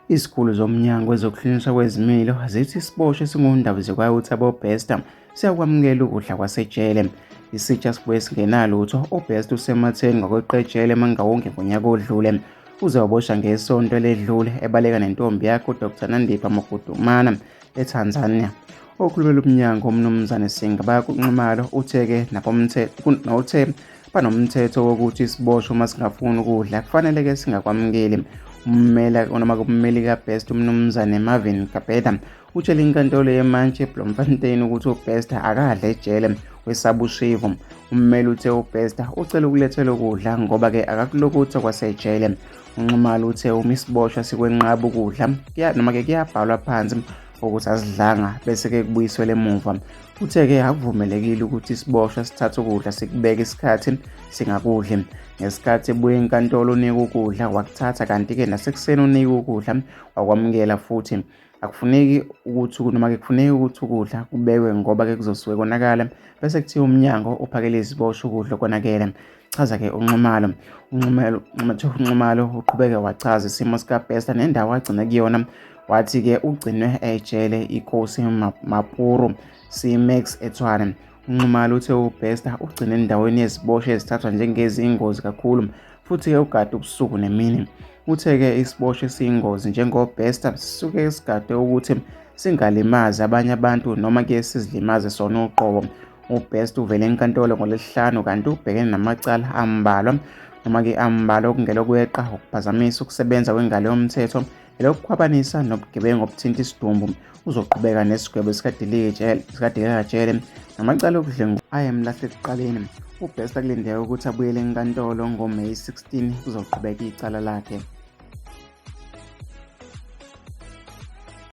Izikhulu zomnyango wezokuhlunyiswa kwezimilo zithi isiboshwa esingundaba zikwayo ukuthi abobester siyakwamukela ukudla kwasejele isitsha sibuye singenalutho ubester usematheni ngokweqejele emangawonke ngonyaka odlule uze wabosha ngesonto eledlule ebaleka nentombi yakhe udr nandipha mokudumana eTanzania. Okhulumela umnyango uMnumzane Singa bayakunxumalo uthe-ke uthe banomthetho wokuthi isiboshwa uma singafuni ukudla kufanele-ke singakwamukeli ummela onoma kummeli kabest umnumzane marvin kabeda utshele inkantolo yemantshi eblomfontein ukuthi ubester akadla ejele wesabushivu ummeli uthe ubester ucela ukulethelwa ukudla ngoba-ke akakulokuthi kwasejele UNxumalo uthe uma isiboshwa sikwenqaba ukudla noma-ke kuyabhalwa phansi ukuthi asidlanga bese-ke kubuyiswele emuva uthe-ke akuvumelekile ukuthi isiboshwa sithathe ukudla sikubeke isikhathi singakudli ngesikhathi ebuye enkantolo unika ukudla wakuthatha kanti-ke nasekuseni unika ukudla wakwamukela futhi akufuneki ukuthi noma ke kufuneki ukuthi ukudla kubekwe ngoba ke kuzosuke konakala bese kuthiwa umnyango uphakele iziboshwa ukudla konakele chaza ke unxumalo unxumalo unxumalo uqhubeke wachaza isimo sikabhesta nendawo agcine kuyona wathi ke ugcinwe ejele ikosi mapuru simax ethwane UNxumalo uthe uBester ugcine endaweni yeziboshwa ezithathwa njengeziyingozi kakhulu futhi-ke ugade ubusuku nemini. Uthe-ke isiboshwa esiyingozi njengoBester sisuke sigade ukuthi singalimazi abanye abantu noma-ke sizilimaze sona uqobo. UBest uvele enkantolo ngolesihlanu kanti ubhekene namacala ambalwa noma-ke ambalwa okungelokweqa, ukuphazamisa ukusebenza kwengalo yomthetho Lokhu khwabanisa nobugebengu obuthinta isidumbu uzoqhubeka nesigwebo sikadelikajele namacala okudlengu ayemlahle ekuqaleni ubest akulindeka ukuthi abuyele enkantolo ngomeyi 16 kuzoqhubeka icala lakhe